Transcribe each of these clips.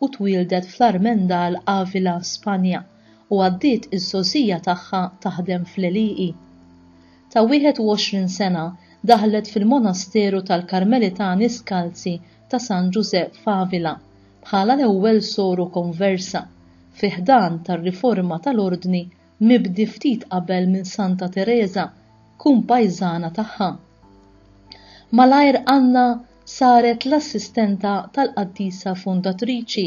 u twieldet fl-Armendal, Avila, Spanja, u għaddiet iż-żgħożija tagħha taħdem fl-għelieqi. Ta' 21 sena daħlet fil-monasteru tal-Karmelitani Skalzi ta' San Ġużè f'Avila bħala l-ewwel soru konversa fi ħdan tar-riforma tal-ordni mibdi ftit qabel minn Santa Tereża, kumpajżana tagħha. Malajr Anna saret l-assistenta tal-qaddisa fundatriċi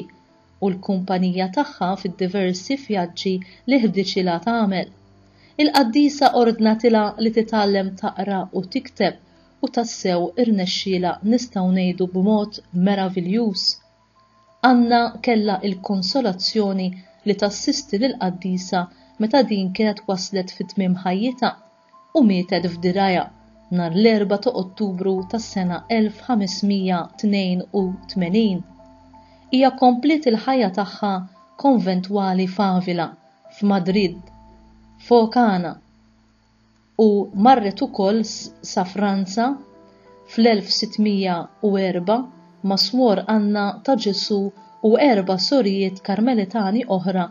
u l-kumpanija tagħha fid-diversi vjaġġi li ħdiċilha tagħmel. Il-qaddisa ordnatilha li titgħallem taqra u tikteb u tassew irnexxielha nistgħu ngħidu b'mod meraviljuż. Anna kellha l-konsolazzjoni li tassisti lill-qaddisa meta din kienet waslet fi tmiem ħajjitha u mietet f'dirgħajha nhar l-Erbgħa ta' Ottubru tas-sena 1582. Hija kompliet il-ħajja tagħha konventwali f'Avila, f'Madrid, f'Ocana, u marret ukoll sa Franza fl-1604 ma' Swor Anna ta' Ġesù u erba' sorijiet Karmelitani oħra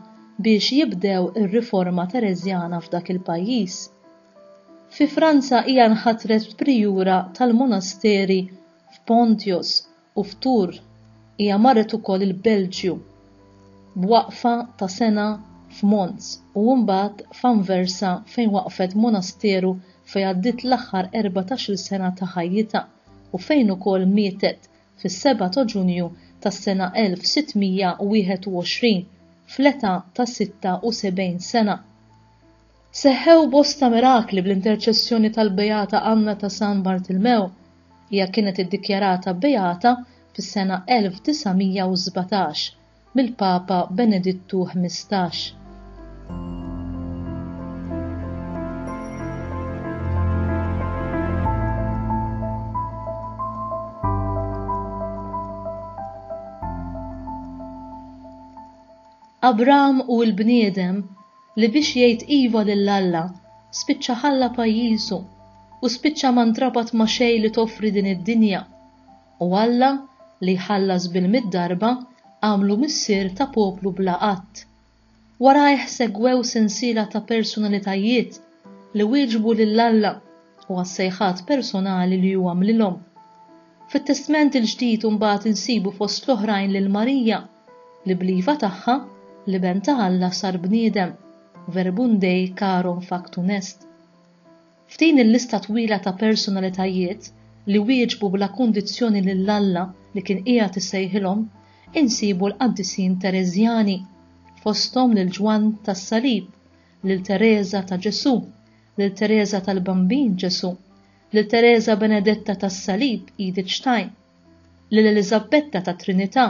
biex jibdew ir-riforma Tereżjana f'dak il-pajjiż. Fi Franza hija nħatret prijura tal-monasteri f'Pontios u f'Tours hija marret ukoll il-Belġju b'waqfa ta' sena f'Mons u mbagħad f'Anversa fejn waqqfet monasteru fejn għaddiet l-aħħar erbatax-il sena ta' ħajjitha u fejn ukoll mietet fis-seba' ta' Ġunju tas-sena 1621 fl-età ta' 76 sena. Seħħew bosta mirakli bl-interċessjoni tal-Beata Anna ta' San Bartilmew. Hija kienet iddikjarata beata fis-sena 1917 mill-Papa Benedittu Ħmistax. Abram u l-bniedem li biex jgħid iva lil Alla, spiċċa ħalla pajjiżu u spiċċa ma ntrabat ma' xejn li toffri din id-dinja. U Alla, li jħallas bil-mitt darba, għamlu missier ta' poplu bla għadd. Warajh segwew sensiela ta' persunalitajiet li wieġbu lil Alla u għas-sejħat personali li hu għamlilhom. Fit-Testment il-Ġdid imbagħad insibu fost l-oħrajn lil Marija, li bl-iva tagħha, l-Iben ta' Alla sar bniedem, Verbum Dei carum factum est. F'din il-lista twila ta' personalitajiet li wieġbu bla kundizzjoni lil Alla li kien qiegħed isejħilhom insibu l-qaddisin Tereżjani, fosthom lil Ġwann tas-Salib, lil Tereża ta' Ġesù, lil Tereża tal-Bambin Ġesù, lil Tereża Benedetta tas-Salib, Edith Stein. lil Eliżabbetta tat-Trinità,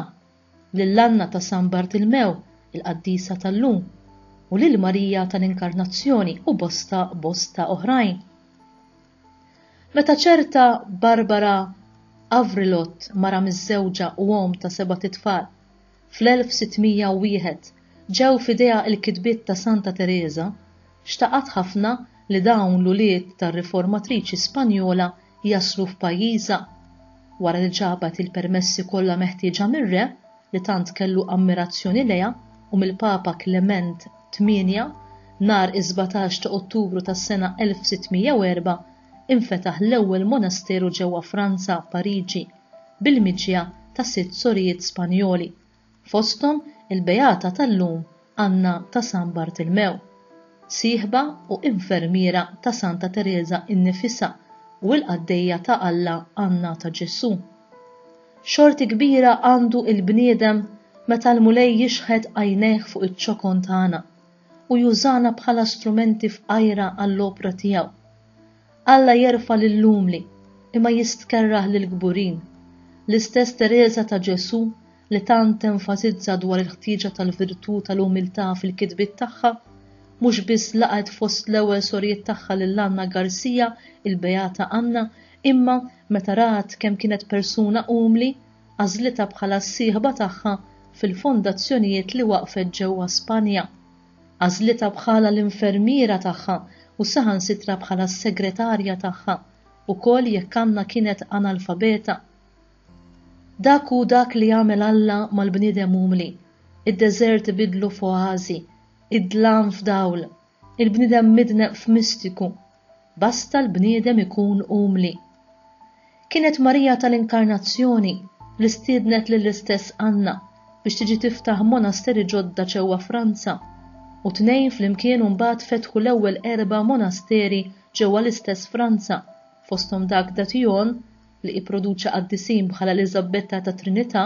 lil Anna ta' San Bartilmew, il-qaddisa tal-lum, u lil Marija tal-Inkarnazzjoni u bosta bosta oħrajn. Meta ċerta Barbara Avrilot, mara miżżewġa u omm ta' sebat itfal, Fl-1601, ġew f'idejha l-kitbiet ta' Santa Tereża, xtaqat ħafna li dawn l-ulied tar-riformatriċi Spanjola jaslu f'pajjiżha. Wara li ġabet il-permessi kollha meħtieġa mir-re, li tant kellu ammirazzjoni lejha, u mill-Papa Klement Tmienja, nhar is-sbatax ta' Ottubru tas-sena 1604, infetaħ l-ewwel monasteru ġewwa Franza, Pariġi. bil-miġja ta' sitt sorijiet Spanjoli, fosthom il-beata tal-lum Anna ta' San Bartilmew, sieħba u infermiera ta' Santa Tereża innifisha u l-qaddejja ta' Alla Anna ta' Ġesù. Xorti kbira għandu l-bniedem meta l-Mulej jixħet għajnejh fuq iċ-ċokon tagħna, u jużana bħala strumenti fqajra għall-opra tiegħu. Alla jerfa' lill-umli, imma jistkerrah lill-kburin. L-istess Tereża ta' Ġesù li tant tenfasizza dwar il-ħtieġa tal-virtù tal-umiltà fil-kitbiet tagħha, mhux biss laqgħet fost l-ewwel sorijiet tagħha lil Anna Garcia, il-Beata Anna, imma, meta rat kemm kienet persuna umli, għażlitha bħala s-sieħba tagħha fil-fondazzjonijiet li waqqfet ġewwa Spanja. Għażlitha bħala l-infermiera tagħha u saħansitra bħala s-segretarja tagħha, ukoll jekk Anna kienet analfabeta. Dak hu dak li għamel Alla mal-bniedem umli. Id-deżert ibiddlu f'oażi, id-dlam f'dawl, Il-bniedem midneb f'mistiku, basta l-bniedem ikun umli. Kienet Marija tal-Inkarnazzjoni li stiednet lill-istess Anna biex tiġi tiftaħ monasteri ġodda ġewwa Franza, u t-tnejn flimkien mbagħad fetħu l-ewwel erba' monasteri ġewwa l-istess Franza, fosthom dak d'Atillon, li ipproduċa qaddisin bħal Eliżabbetta tat-Trinità,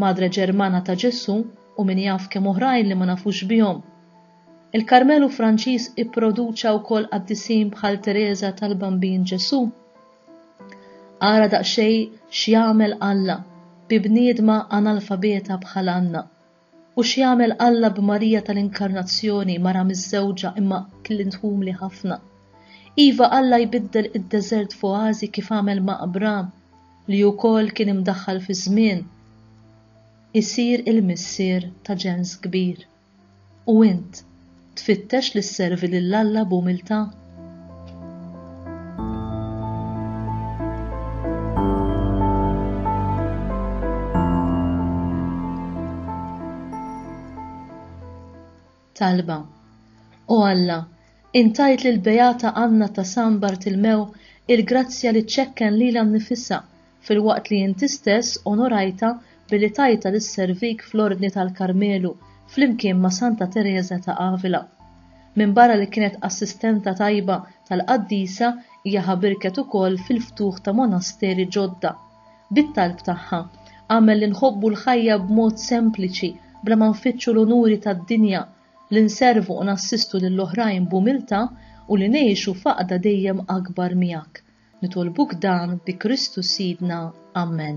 Madre Ġermana ta' Ġesù u min jaf kemm oħrajn li ma nafux bihom. Il-Karmelu Franċiż ipproduċa wkoll qaddisin bħal Tereża tal-Bambin Ġesù. Ara daqsxejn x'jagħmel Alla bi bniedma analfabeta bħal Anna, u x'jagħmel Alla b'Marija tal-Inkarnazzjoni, mara miżżewġa imma klient umli ħafna. Iva, Alla jbiddel id-deżert f'oażi kif għamel ma' Abram. li wkoll kien imdaħħal fiż-żmien, isir il-missier ta' ġens kbir. U int, tfittex li sservi lil Alla b'umiltà? Talba. O Alla, Int għidt lill-Beata Anna ta' San Bartilmew il-grazzja li ċċekken lilha nnifisha, filwaqt li Inti stess onorajtha billi tajtha lis-servik fl-Ordni tal-Karmelu flimkien ma' Santa Tereża ta' Avila. Minbarra li kienet assistenta tajba tal-qaddisa hija ħabirket ukoll fil-ftuħ ta' monasteri ġodda. Bit-talb tagħha, agħmel li nħobbu l-ħajja b'mod sempliċi bla ma nfittxu l-unuri tad-dinja, li nservu u nassistu lil oħrajn b'umiltà u li ngħixu f'għaqda dejjem akbar miegħek. Nitolbuk dan bi Kristu Sidna. Ammen.